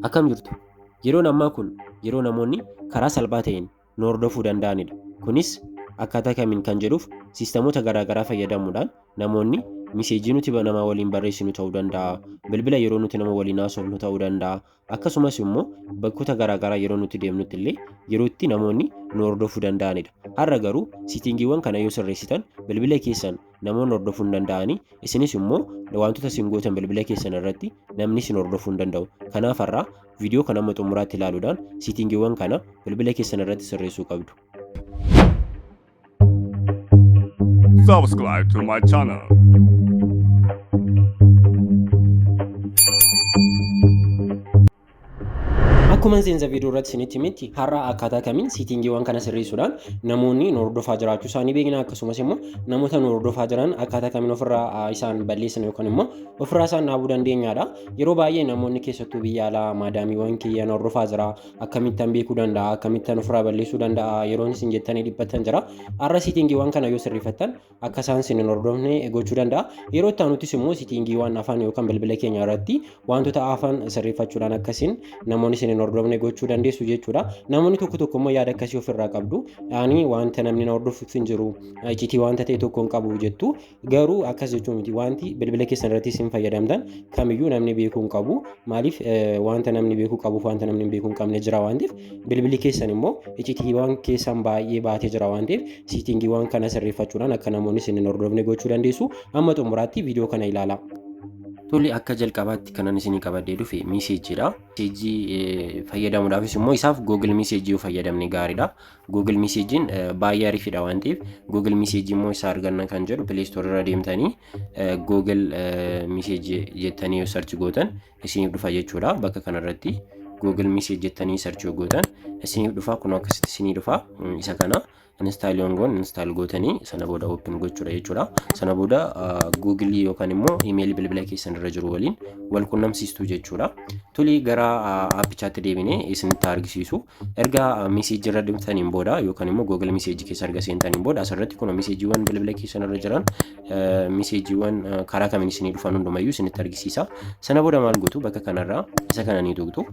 Akkam jirtu? Yeroon ammaa kun yeroo namoonni karaa salphaa ta'een nu hordofuu danda'anidha. Kunis akkaataa kamiin kan jedhuuf siistamoota garaagaraa fayyadamuudhaan namoonni miseejii nuti nama waliin barreessinu ta'uu danda'a, bilbila yeroo nuti nama waliin haasofnu ta'uu danda'a, akkasumas immoo bakkoota garaagaraa yeroo nuti deemnutti illee yeroo itti namoonni nu hordofuu danda'anidha. Har'a garuu siitingiiwwan kana yoo sirreessitan bilbila keessan namoonni hordofuu hin danda'ani isinis immoo wantoota isin gootan bilbila keessan irratti namni isin hordofuu hin danda'u kanaaf har'aa viidiyoo kana amma xumuraatti ilaaluudhaan siitingiiwwan kana bilbila keessan irratti sirreessuu qabdu. Subscribe to my channel. Akkuma seensa viidiyoo irratti isinitti himetti har'a akkaataa kamiin siitingiiwwan kana sirreessuudhaan namoonni nu hordofaa jiraachuu isaanii beekna akkasumas immoo namoota nu hordofaa jiran akkaataa kamiin ofirraa ah, isaan balleessan yookaan immoo ofirraa isaan dhaabuu dandeenyaadha. Yeroo baay'ee namoonni keessattuu biyya alaa maadaamiiwwan kiyya na hordofaa jira akkamittan beekuu danda'a akkamittan ofirraa balleessuu danda'a yeroon isin jettanii dhiphattan jira. Har'a siitingiiwwan kana yoo sirreeffattan akka isaan sin hin hordofne gochuu danda'a. Yeroo itti aanuttis immoo sitiingiiwwan afaan yookaan bilbila keenya irratti wantoota afaan sirreeffachuudhaan akka isin namoonni sin hin hordofne gochuu dandeessu jechuudha. Namoonni tokko tokko immoo yaada akkasii ofirraa qabdu. Ani wanta namni na hordofuuf hin jiru iccitii wanta ta'e tokko hin qabu jettu. Garuu akkas jechuu miti wanti bilbila keessan irratti isin fayyadamtan kamiyyuu namni beekuu hin qabu. Maaliif wanta namni beekuu qabuuf wanta namni hin beekuu hin qabne jira waan ta'eef bilbilli keessan immoo icitiiwwan keessan baay'ee baatee jira waan ta'eef siitingiiwwan kana sirreeffachuudhaan akka namoonni isin hin hordofne gochuu dandeessu amma xumuraatti viidiyoo kana ilaalaa. Tole akka jalqabaatti kanan isinii qabadhee dhufe miiseejiidha. Miiseejii fayyadamuudhaafis immoo isaaf Google Miiseejii yoo fayyadamne gaariidha. Google Miiseejiin baay'ee ariifidha waan ta'eef Google Miiseejii immoo isa arganna kan jedhu Play Store irra deemtanii Google Miiseejii jettanii yoo sarchi gootan isiniif dhufa jechuudha bakka kanarratti google message jettanii search yoo gootan isiniif dhufa kun akkasitti isinii dhufa isa kana install yoon goon install gootanii sana booda open gochuudha jechuudha sana booda google yookaan immoo email bilbila keessan irra jiru waliin wal qunnamsiistuu jechuudha tuli gara appichaatti deebinee isinitti argisiisu erga message irra dhimtaniin booda yookaan immoo google message keessa erga seentaniin booda asirratti kun messageewwan bilbila keessan irra jiran miseejiiwwan karaa kamiin isinii dhufan hundumayyuu isinitti argisiisa. Sana booda maal gootu bakka kanarraa isa kana ni tuqxu.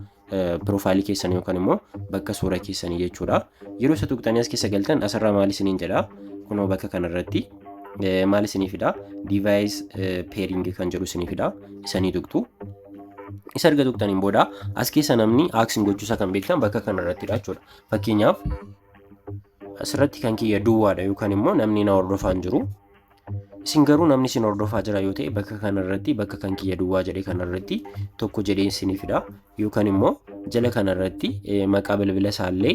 Piroofaayilii keessan yookaan immoo bakka suura keessanii jechuudha. Yeroo isa tuqxanii as keessa galtan asirraa maal isiniin jedha? Kunoo bakka kanarratti maal isinii fida? Divaayis peeringi kan jedhu isinii fida. Isa ni tuqxu. Isa erga tuqxaniin booda as keessa namni aaksiin gochuusaa kan beektan bakka kanarrattidha jechuudha. Fakkeenyaaf Asirratti kan kiyya duwwaadha yookaan immoo namni na hordofaa hin jiru. Isin garuu namni isin hordofaa jira yoo ta'e bakka kanarratti bakka kan kiyya duwwaa jedhe kanarratti tokko jedhee isinii fida yookaan immoo jala kanarratti maqaa bilbila isaallee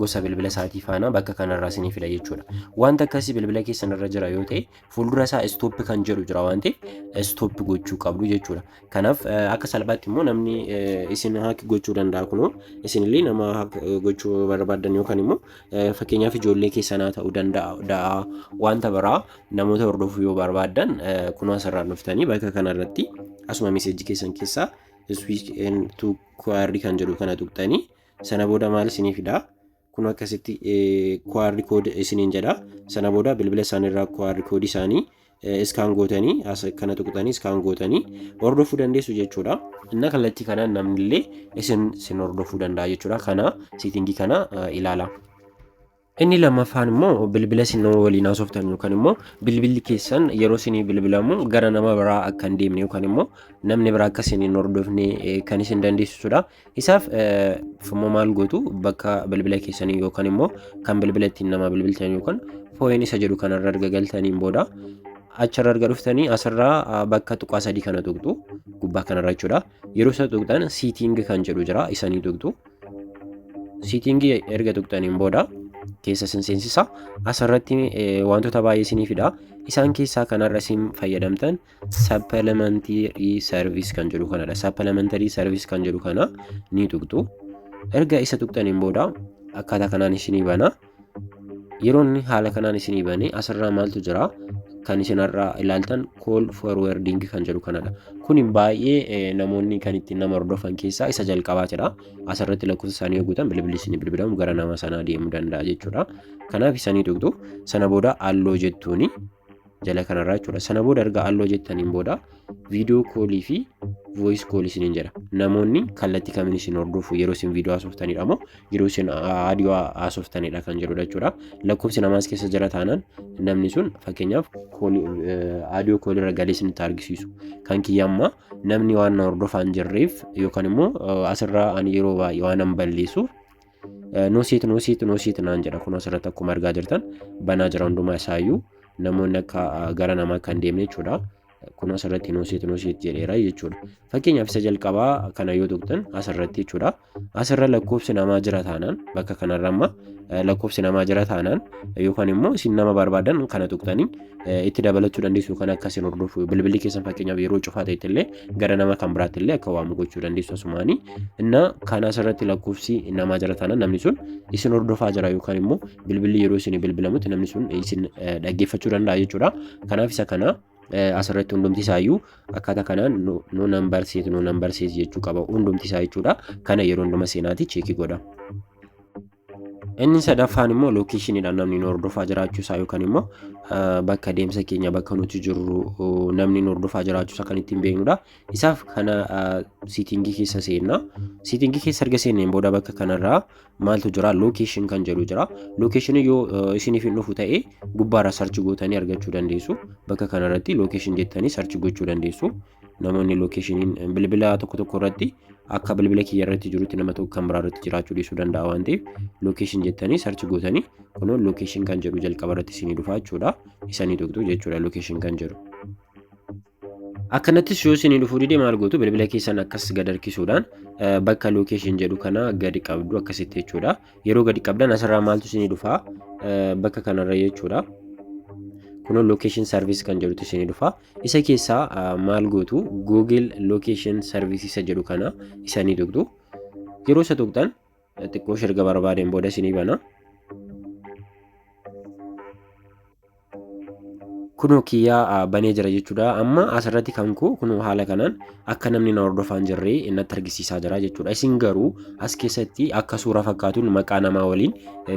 gosa bilbila isaatii faana bakka kanarraa isinii fida jechuudha. Wanta akkasii bilbila keessanirra jira yoo ta'e fuuldura isaa stop kan jedhu jira waan ta'eef stop gochuu qabdu jechuudha. Kanaaf akka salphaatti immoo namni isin haak gochuu danda'a kunoo isinillee nama haak gochuu barbaadan yookaan immoo fakkeenyaaf ijoollee keessanaa ta'uu danda'a wanta biraa namoota hordofuu yoo barbaadan kunoo asirraa dhuftanii bakka kanarratti asuma meseejii keessan keessaa switch and to query kan jedhu kana tuqxanii sana booda maal isiniif fidaa? kun akkasitti QR code isiniin jedha sana booda bilbila isaanii irraa QR code isaanii iskaan gootanii as kana tuqxanii iskaan gootanii hordofuu dandeessu jechuudha. Inna kallattii kanaan namnillee isin sin hordofuu danda'a jechuudha. Kana siitingii kana ilaala. Inni lammaffaan immoo bilbila isin nama waliin haasoftan yookaan immoo bilbilli keessan yeroo isin bilbilamu gara nama biraa akka hin deemne yookaan immoo namni biraa akka isin hin hordofne kan isin dandeessisudha. Isaaf immoo maal gootu bakka bilbila keessanii yookaan immoo kan bilbila ittiin namaa bilbiltan yookaan fooyeen isa jedhu kanarra erga galtaniin booda achirra erga dhuftanii asirraa bakka tuqaa sadii kana tuqxu gubbaa kanarra jechuudha. Yeroo isa tuqxan siitingi kan jedhu jira isanii tuqxu. Siitingi erga tuqxaniin booda keessa isin seensisa. Asirratti wantoota baay'ee isiniif fida. Isaan keessaa kanarra isin fayyadamtan Sappalamantary service kan jedhu kanadha. Sappalamantary service kan jedhu kana ni tuqxu. Erga isa tuqxaniin booda akkaataa kanaan isinii bana. Yeroo inni haala kanaan isinii bane asirraa maaltu jira? Kan isin har'a ilaaltan call forwarding kan jedhu kanadha. Kun baay'ee namoonni kan ittiin nama hordofan keessaa isa jalqabaatidha. Asirratti lakkoofsa isaanii yoo guutan bilbilli isinii bilbilamu gara nama sanaa deemuu danda'a jechuudha. Kanaaf isanii tuqxu. Sana booda halloo jettuuni. jala kanarraa jechuudha. Sana booda erga alloo jettaniin booda viidiyoo koolii fi voice koolii isiniin jedha. Namoonni kallattii kamiin isin hordofu yeroo isin viidiyoo haasoftanidha moo yeroo isin aadiyoo haasoftanidha kan jedhudha jechuudha. Lakkoofsi namaas keessa jira taanaan namni sun fakkeenyaaf aadiyoo koolii irra galee isinitti argisiisu. Kan kiyya ammaa namni waan na hordofaa hin jirreef yookaan immoo asirraa ani yeroo baay'ee waan hin balleessuuf Nuusiit nuusiit nuusiit naan jedha kunoo asirratti akkuma argaa jirtan banaa jira hundumaa isaayyuu namoonni akka gara namaa kan deemne jechuudha. Kunoo asirratti nuusiit nuusiit jedheera jechuudha. Fakkeenyaaf isa jalqabaa kana yoo tuqxan asirratti jechuudha. Asirra lakkoofsi namaa jira taanaan bakka kanarra amma lakkoofsi namaa jira taanaan yookaan immoo isin nama barbaadan kana tuqxanii itti dabalachuu dandeessu kan akka isin hordofu bilbilli keessan fakkeenyaaf yeroo cufaa ta'etti illee gara nama kan biraatti illee akka waamu gochuu dandeessu asumaanii inna kan asirratti lakkoofsi namaa jira taana namni sun isin hordofaa jira yookaan immoo bilbilli yeroo isin bilbilamutti namni sun isin dhaggeeffachuu danda'a jechuudha kanaaf isa kana asirratti hundumti isaayyuu akkaataa kanaan no nambar seet no nambar seet jechuu qaba hundumti isaa jechuudha kana yeroo hunduma seenaati cheekii godha. Inni sadaffaan immoo lookeeshiniidhaan namni nu hordofaa jiraachuu isaa yookaan immoo bakka deemsa keenya bakka nuti jirru namni nu hordofaa jiraachuu isaa kan ittiin beeknudha. Isaaf kana siitingii keessa seenna. Siitingii keessa erga seenneen booda bakka kanarraa maaltu jira lookeeshin kan jedhu jira. Lookeeshinii yoo isiniif hin dhufu ta'e gubbaarra sarchi gootanii argachuu dandeessu. Bakka kanarratti lookeeshin jettanii sarchi gochuu dandeessu. Namoonni lookeshiniin bilbila tokko tokko irratti akka bilbila kiyya irratti jirutti nama tokko kan biraa irratti jiraachuu dhiisuu danda'a waan ta'eef lookeshin jettanii sarchi gootanii kunoo lookeshin kan jedhu jalqaba irratti isinii dhufaa jechuudha isanii tuqxu jechuudha lookeshin kan jedhu. Akkanattis yoo isinii dhufuu dide maal gootu bilbila keessan akkas gad harkisuudhaan bakka lookeshin jedhu kana gadi qabdu akkasitti jechuudha yeroo gadi qabdan asirraa maaltu isinii dhufaa bakka kanarra jechuudha. Kunoo lookeshin sarviis kan jedhutu isinii dhufaa Isa keessaa maal gootu Google Location Service isa jedhu kana isa ni tuqxu. Yeroo isa tuqxan xiqqoo erga barbaadeen booda isinii bana. kunoo kiyyaa banee jira jechuudha amma asirratti kan koo kunoo haala kanaan akka namni na hordofaa hin jirre natti argisiisaa jira jechuudha isin garuu as keessatti akka suura fakkaatuun maqaa namaa waliin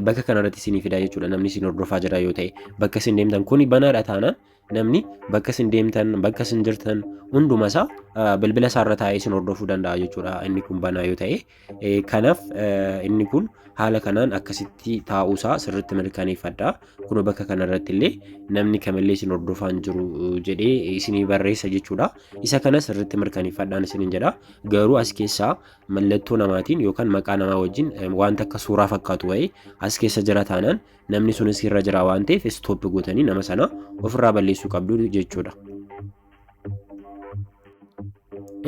bakka kanarratti isinii fidaa jechuudha namni isin hordofaa jira yoo ta'e bakka isin deemtan kuni banaadha taanaan Namni bakka isin deemtan, bakka isin jirtan hunduma isaa eh, bilbila isaa irra taa'ee isin hordofuu danda'a jechuudha inni kun banaa yoo ta'e. Eh, Kanaaf eh, inni kun haala kanaan akkasitti taa'uu isaa sirriitti mirkaneeffadha. Kunoo bakka kana irratti illee namni kamillee isin hordofaa hin jiru eh, jedhee isinii barreessa jechuudha. Isa kana sirriitti mirkaneeffadhaan isiniin jedha. Garuu as keessaa mallattoo namaatiin yookaan maqaa namaa wajjin eh, wanta akka suuraa fakkaatu wayii as keessa jira taanaan namni sun isinirra jira waan ta'eef istooppi gootanii nama sana ofirraa balleessuu qabdu jechuudha.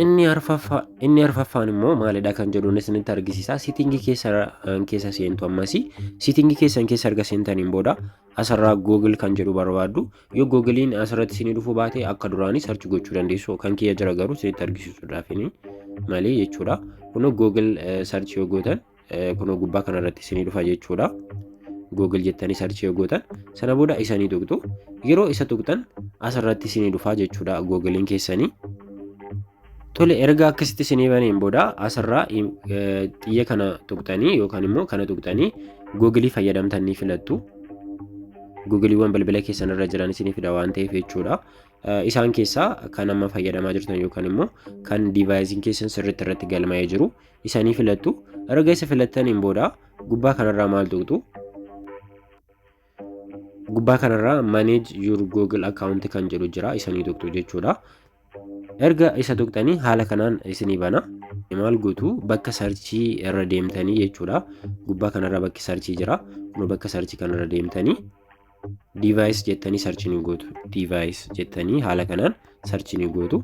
Inni arfaffaa inni arfaffaan immoo maalidha kan jedhuun isinitti argisiisa. Siitingii keessan keessa seentu ammas siitingii keessan keessa erga seentaniin booda asirraa Google kan jedhu barbaaddu yoo Google'n asirratti isinii dhufuu baate akka duraanii sarchi gochuu dandeessu kan kiyya jira garuu isinitti argisiisuudhaaf malee jechuudha. Kun Google sarchi yoo gootan kunoo gubbaa kana irratti isinii dhufa jechuudha. Google jettanii sarchii yoo gootan sana booda isanii tuqxu yeroo isa tuqxan asirratti isinii dhufa jechuudha Google'n keessanii. Tole erga akkasitti isinii baneen booda asirraa xiyya kana tuqxanii yookaan immoo kana tuqxanii Google fayyadamtan ni filattu. Googleewwan bilbila keessan irra jiran isinii fida waan ta'eef jechuudha. Isaan keessaa kan amma fayyadamaa jirtan yookaan immoo kan diivaayiziin keessan sirriitti irratti galmaa'ee jiru isanii filattu erga isa filattaniin booda gubbaa kanarraa maal tuqxu gubbaa kanarraa manage your google account kan jedhu jira isanii tuqxu jechuudha erga isa tuqxanii haala kanaan isinii bana maal gootu bakka sarchii irra deemtanii jechuudha gubbaa kanarra bakki sarchii jira kun bakka sarchii kanarra deemtanii device jettanii sarchii ni gootu device jettanii haala kanaan sarchii ni gootu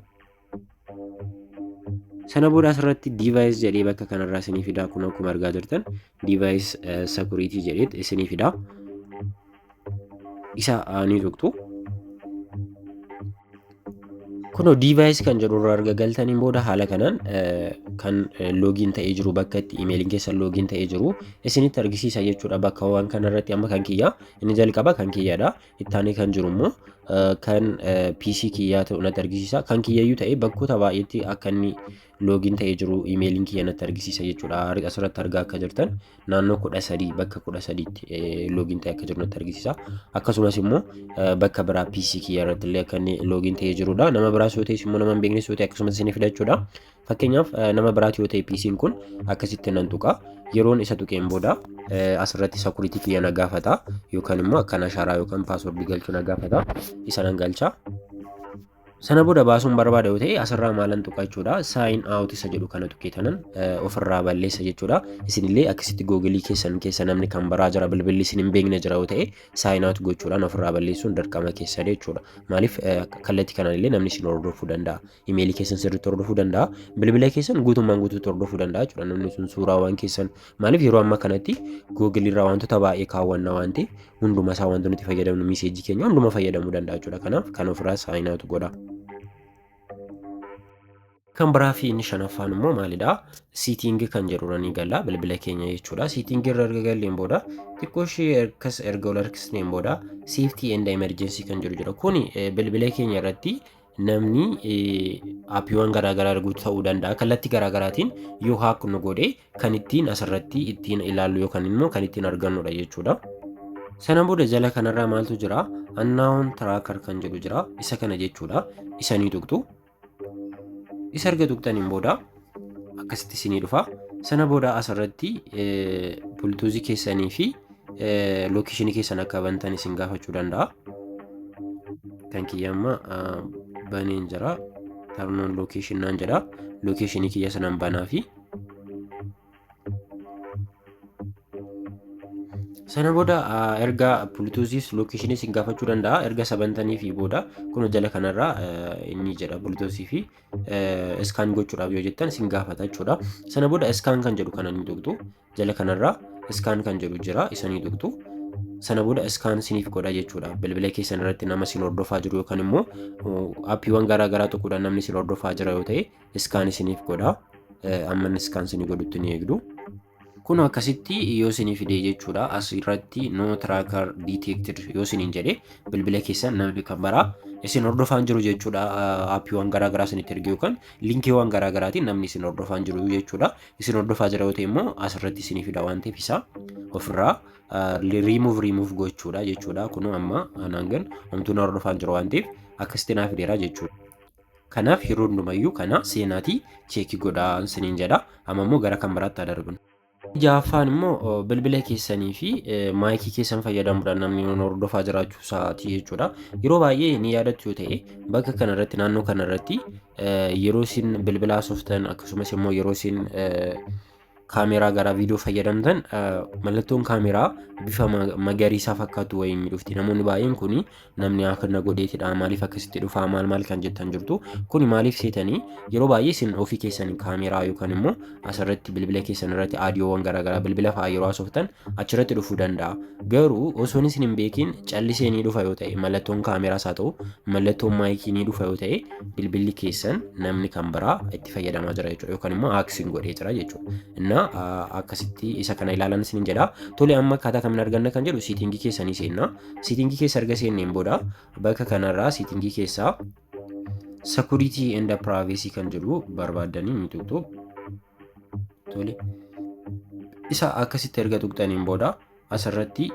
Sana booda asirratti device jedhee bakka kanarraa isinii fidaa kun akkuma argaa jirtan device eh, security jedhee isinii fidaa. Isa ah, ni tuqxu. Kunoo device kan jedhu irraa erga galtaniin booda haala kanaan eh, kan eh, loogiin ta'ee jiru bakka itti imeeliin keessan loogiin ta'ee jiru isinitti argisiisa jechuudha bakka waan kanarratti amma kan kiyyaa inni jalqaba kan kiyyaadha Ittaanee kan jiru immoo kan PC kiyyaa ta'u natti argisiisa. Kan kiyyayyuu ta'ee bakkoota baay'eetti akka inni loogiin ta'ee jiru imeeliin kiyya natti argisiisa jechuudha. Asirratti argaa akka jirtan naannoo kudha sadii bakka kudha sadiitti loogiin ta'ee akka jiru natti argisiisa. Akkasumas immoo bakka biraa PC kiyya irratti illee akka inni loogiin ta'ee jirudha. Nama biraas yoo ta'es immoo nama hin beeknes yoo ta'e akkasumas isinii fidachuudha. Fakkeenyaaf nama biraati yoo ta'e PC'n kun akkasitti nan tuqa. Yeroon isa tuqeen booda asirratti security kiyya na gaafata yookaan immoo akkan ashaaraa yookaan password galchu na gaafata. Isa nan galcha. Sana booda baasuun barbaada yoo ta'e asirraa maalan tuqa jechuudha. Sign out isa jedhu kana tuqee tanan ofirraa balleessa jechuudha. Isinillee akkasitti googilii keessan keessa namni kan baraa jira bilbilli isin hin beekne jira yoo ta'e sign out gochuudhaan ofirraa balleessuun dirqama keessadha jechuudha. Maaliif kallattii kanaan illee namni isin hordofuu danda'a. imeelii keessan sirriitti hordofuu danda'a. Bilbila keessan guutummaan guutuutti hordofuu danda'a jechuudha namni sun suuraawwan keessan. Maaliif yeroo ammaa kanatti Google irraa wantoota baay'ee kaawwanna waan ta'eef hunduma isaa wantoota nuti fayyadamnu miseejii keenya hunduma fayyadamuu danda'a jechuudha. Kanaaf kan ofirraa saayinaatu godha. Kan biraa fi inni shanaffaan immoo maalidha? Siitingii kan jedhu irra ni galla bilbila keenya jechuudha. Siitingii irra erga galleen booda xiqqoo ishee ergas erga ol harkisneen booda safety and emergency kan jedhu jira. Kuni bilbila keenya irratti namni appiiwwan garaagaraa arguu ta'uu danda'a. Kallattii garaagaraatiin yoo haak nu godhe kan ittiin asirratti ittiin ilaallu yookaan immoo kan ittiin argannudha jechuudha. Sana booda jala kanarraa maaltu jira? Annaawun tiraakar kan jedhu jira. Isa kana jechuudha. Isa ni tuqxu. Isa erga tuqxaniin booda akkasitti isinii dhufa sana booda asirratti bultuuzii keessanii fi lookeeshinii keessan akka bantan isin gaafachuu danda'a kan kiyya amma baneen jira tarnoon lookeeshin naan jedha lookeeshinii kiyya sanan banaa fi sana booda erga bultuuziis lookeeshinii isin gaafachuu danda'a erga sabantanii fi booda kun jala kanarraa inni jedha bultuuzii fi iskaan gochuudhaaf yoo jettan isin gaafata jechuudha. Sana booda iskaan kan jedhu kana ni tuqxu. Jala kanarraa iskaan kan jedhu jira isa ni tuqxu. Sana booda iskaan siniif godha jechuudha. Bilbila keessan irratti nama sin hordofaa jiru yookaan immoo appiiwwan garaa garaa tuquudhaan namni sin hordofaa jira yoo ta'e iskaan isiniif godha. Amma iskaan sinii godhutti ni eegdu. Kun akkasitti yoo isinii fidee jechuudha as irratti no tracker detected yoo isiniin jedhe bilbila keessan namni kan baraa isin hordofaan jiru jechuudha aappiiwwan garaagaraa isinitti ergee yookaan linkiiwwan garaagaraatiin namni isin hordofaan jiru jechuudha isin hordofaa jira yoo ta'e immoo as irratti isinii fida waan ta'eef isaa ofirraa riimuuf riimuuf gochuudha jechuudha kun amma anaan gan homtuun hordofaan jiru waan ta'eef akkasitti naa fideera jechuudha. Kanaaf yeroo hundumayyuu kana seenaatii cheekii godhaa isiniin jedha. Amma immoo gara kan biraatti haa darbinu. Ja'affaan immoo bilbila keessanii fi maayikii keessan fayyadamuudhaan namni nuun hordofaa jiraachuu isaati jechuudha. Yeroo baay'ee ni yaadattu yoo ta'e bakka kana irratti naannoo kana irratti yeroo isin bilbila haasoftan akkasumas immoo yeroo isin kaameraa garaa viidiyoo fayyadamtan mallattoon kaameraa bifa magariisaa fakkaatu wayiin ni dhufti namoonni baay'een kun namni akkana godheetidha maaliif akkasitti dhufaa maal maal kan jettan jirtu kun maaliif seetanii yeroo baay'ee isin ofii keessan kaameraa yookaan immoo asirratti bilbila keessan irratti aadiyoowwan garaagaraa bilbila fa'aa yeroo haasoftan achirratti dhufuu danda'a garuu osoon isin hin beekin callisee ni dhufa yoo ta'e mallattoon kaameraas haa ta'u mallattoon maayikii ni dhufa yoo ta'e bilbilli keessan namni kan biraa itti itti fayyadamaa jira jechuudha yookaan immoo aaksiin godhee jira jechuudha. Innaa akkasitti isa kana ilaalan isin jedha. Tole amma akkaataa kamiin arganna kan jedhu siitingii keessa ni seenna. Siitingii keessa erga seenneen booda bakka kanarraa siitingii keessaa security and privacy kan jedhu barbaaddanii ni tuqxu. Tole isa akkasitti erga tuqxaniin booda asirratti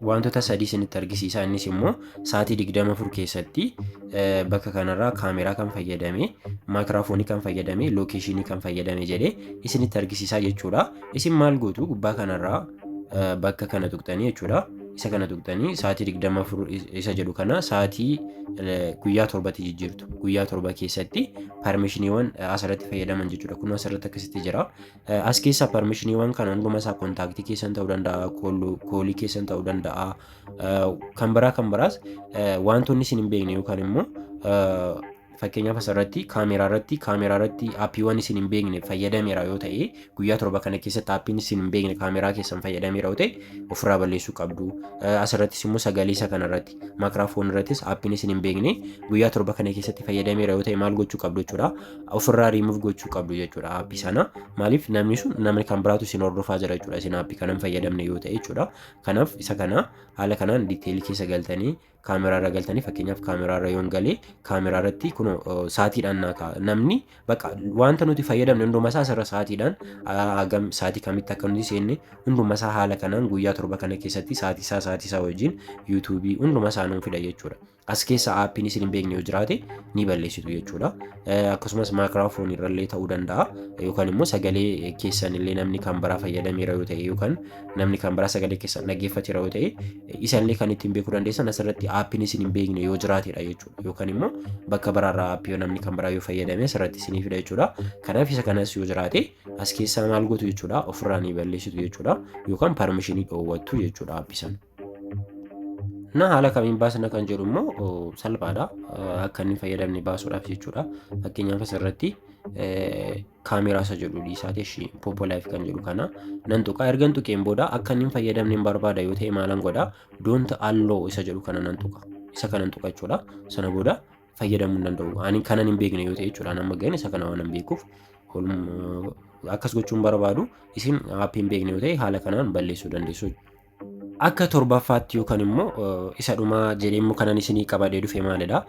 Waantota sadii isinitti argisiisaa innis immoo sa'aatii 24 keessatti bakka kanarraa kaameraa kan fayyadame maayikiraafoonii kan fayyadame lookeeshinii kan fayyadame jedhee isinitti argisiisaa jechuudha. Isin maal gootu gubbaa kanarraa bakka kana tuqxanii jechuudha. Isa kana tuqxanii sa'aatii 24 isa jedhu kana sa'aatii guyyaa torbatti jijjiirtu. Guyyaa torba keessatti parmeeshiniiwwan asirratti fayyadaman jechuudha. Kun asirratti akkasitti jira. As keessaa permishiniiwwan kana hunduma isaa kontaaktii keessan ta'uu danda'a, koolii keessan ta'uu danda'a, kan biraa kan biraas wantoonni isin hin beekne yookaan immoo fakkeenyaaf asirratti kaameeraa irratti kaameeraa irratti aappiiwwan isin hin beekne fayyadameera yoo ta'e guyyaa torba kana keessatti aappiin isin hin beekne kaameeraa keessan fayyadameera yoo ta'e ofirraa balleessuu qabdu. Asirrattis immoo sagalee isa kanarratti maakiraafoon irrattis aappiin isin hin beekne guyyaa torba kana keessatti fayyadameera yoo ta'e maal gochuu qabdu jechuudha. ofirraa remove gochuu qabdu jechuudha aappii sana maaliif namni sun namni kan biraatu isin hordofaa jira jechuudha isin aappii kana hin fayyadamne yoo ta'e jechuudha kanaaf isa kana haala kanaan diiteelii keessa galtanii kaameraa irra galtanii fakkeenyaaf kaameraa irra yoon galee kaameraa irratti kun saatiidhaan naa ka'a namni bakka wanta nuti fayyadamne hunduma isaa asirra saatiidhaan hagam saatii kamitti akka nuti seenne hunduma isaa haala kanaan guyyaa torba kana keessatti saatii isaa saatii isaa wajjin yuutuubii hunduma isaa nuun fida jechuudha. As keessa aappiin isin hin beekne yoo jiraate ni balleessitu jechuudha. Akkasumas maakiraafoon irrallee ta'uu danda'a yookaan immoo sagalee keessan illee namni kan biraa fayyadameera yoo ta'e yookaan namni kan biraa sagalee keessan dhaggeeffateera yoo ta'e isallee kan ittiin beekuu dandeessan asirratti aappiin isin hin beekne yoo jiraatedha jechuudha. Yookaan immoo bakka biraarraa aappii yoo namni kan biraa yoo fayyadame asirratti isinii fida jechuudha. Kanaaf isa kanas yoo jiraate as keessaa maal gootu jechuudha ofirraa ni balleessitu jechuudha yookaan parmishinii dhoowwattu jechuudha aappii sana. Na haala kamiin baasna kan jedhu immoo salphaadha. Akka inni fayyadamne baasuudhaaf jechuudha. Fakkeenyaaf asirratti kaameeraa isa jedhu dhiisaati ishii popo live kan jedhu kana nan tuqa ergan tuqeen booda akka inni hin fayyadamne hin barbaada yoo ta'e maalan godha doonta alloo isa jedhu kana nan tuqa isa kana nan tuqa jechuudha sana booda fayyadamuu hin danda'u ani kanan hin beekne yoo ta'e jechuudha amma ga'een isa kana waan hin beekuuf akkas gochuun barbaadu isin aappiin beekne yoo ta'e haala kanaan balleessuu dandeessu. Akka torbaffaatti yookaan immoo eh, isa dhumaa jedhee immoo kanan isinii qabadee dhufe maalidha?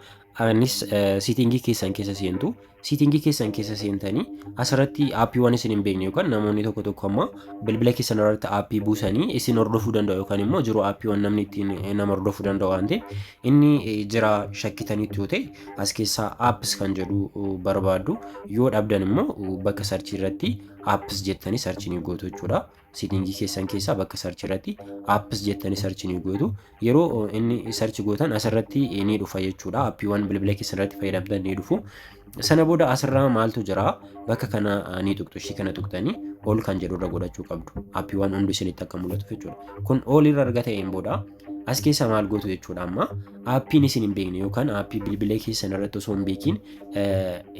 Anis eh, siitingii keessan keessa seentu. Siitingii keessan keessa seentanii asirratti aappiiwwan isin hin beekne yookaan namoonni tokko tokko amma bilbila keessan irratti aappii buusanii isin hordofuu danda'u yookaan immoo jiru aappiiwwan namni ittiin eh, nama hordofuu danda'u waan ta'eef inni eh, jira shakkitanitti yoo ta'e as keessaa apps kan jedhu eh, barbaaddu yoo dhabdan immoo eh, bakka sarchii irratti apps jettanii sarchii ni gootu jechuudha. Sitingii keessan keessaa bakka search irratti apps jettanii search ni gootu. Yeroo inni search gootan asirratti ni dhufa jechuudha. Appiiwwan bilbila keessan irratti fayyadamtan ni dhufu. Sana booda asirraa maaltu jira? Bakka kana ni tuqxu. Ishii kana tuqtanii ol kan jedhu irra godhachuu qabdu. Appiiwwan hundi isinitti akka mul'atu jechuudha. Kun ol irra erga ta'een booda as keessa maal gootu jechuudha amma appiin isin hin beekne yookaan appii bilbila keessan irratti osoo hin beekin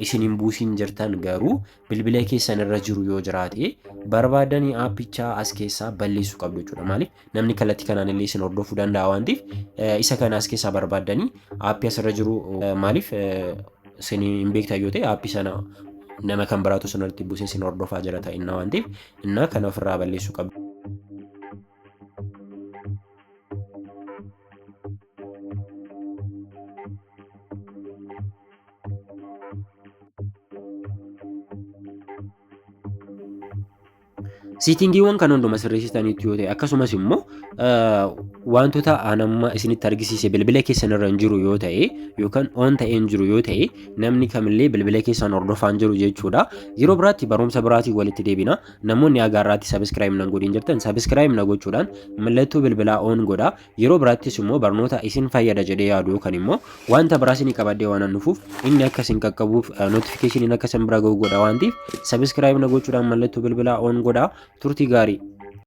isin hin buusin jirtan garuu bilbila keessan irra jiru yoo jiraate barbaadanii aappichaa as keessaa balleessu qabdu jechuudha. Maaliif namni kallattii kanaan illee isin hordofuu danda'a waan ta'eef isa kana as keessaa barbaadanii aappii asirra jiru maaliif isin hin beektan yoo ta'e aappii sana nama kan biraatu isin irratti buusee isin hordofaa jira ta'inna waan ta'eef innaa kana ofirraa balleessu qabdu. Siitingiiwwan kan hunduma sirreessitaniitu yoo ta'e akkasumas immoo wantoota aan amma isinitti argisiise bilbila keessan irra hin jiru yoo ta'e yookaan oon ta'ee hin jiru yoo ta'e namni kamillee bilbila keessan hordofaa hin jiru jechuudha. Yeroo biraatti barumsa biraatiin walitti deebina. Namoonni hagaa irraatti sabiskiraayib nan godhin jirtan sabiskiraayib na gochuudhaan mallattoo bilbilaa oon godha. Yeroo biraattis immoo barnoota isin fayyada jedhee yaadu yookaan immoo wanta biraa isinii qabadhee waan dhufuuf inni akka isin qaqqabuuf notifikashiniin akka isin bira ga'u godha waan ta'eef sabiskiraayib na gochuudhaan mallattoo bilbilaa oon godha turtii gaarii.